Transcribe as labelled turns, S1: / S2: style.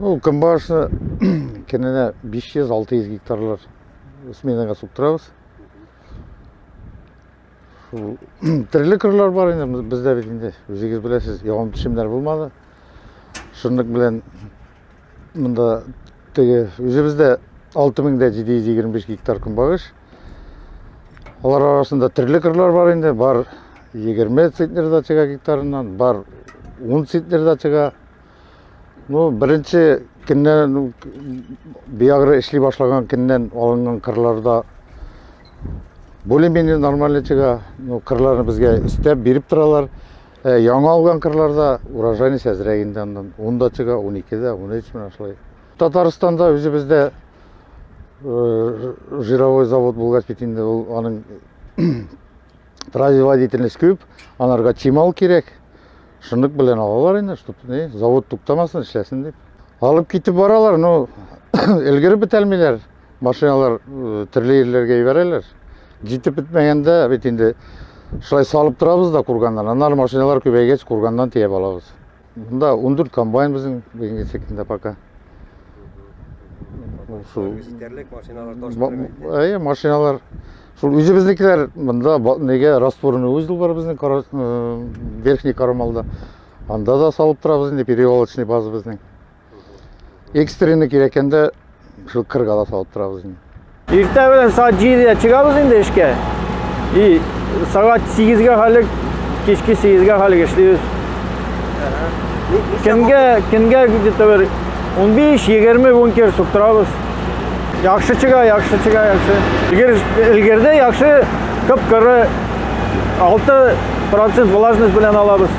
S1: Ну, көнбагышны кененә 500-600 гектарлар сменаға суктырабыз. Шул төрле кырлар бар инде бездә бит инде. Үзегез беләсез, ягым төшемнәр булмады. Шунлык белән монда теге үзебездә 6725 гектар көнбагыш Алар арасында төрле кырлар бар инде, бар 20 центнер дачага гектарыннан, бар 10 центнер дачага. Ну, беренче көннән биягры эшли башлаган көннән алынган кырларда более-менее нормальный чыга. Ну, кырларны безгә өстәп биреп торалар. Ә, яңа алган кырларда урожайность әзрәк инде аннан. 10 дачага, 12 дә, 13 менә шулай. Татарстанда үзебездә жировой завод булгач бит инде ул аның производительность күп, анарга чимал кирәк. Шундук белән алалар инде, чтоб не, завод туктамасын, эшләсен дип. Алып китеп баралар, но өлгереп бетәлмиләр. Машиналар төрле җирләргә җибәрәләр. Җитеп бетмәгәндә бит инде шулай салып торабыз да курганнан. Аннары машиналар күбәйгәч курганнан тиеп алабыз. Мында 14 комбайн безнең бүгенге секунда пока. Шул җитәрлек машиналар таш бетермәйт. Әйе, машиналар. Шул үзебезнекеләр мында неге растворны узел бар безнең э, верхний Карамалда. Анда да салып торабыз инде перевалочный база безнең. Экстренный кирәккәндә шул кырга да салып торабыз инде. Иртә белән
S2: саат 7-дә чыгабыз инде эшкә. И сәгать 8-гә хәлек, кичке 8-гә хәлек эшлибез. Көнгә, көнгә где-то бер 15-20 бункер суктырабыз. Яхшы чыга, яхшы чыга, яхшы. Егер өлгерде, яхшы кып-кыры 6% влажность белән алабыз.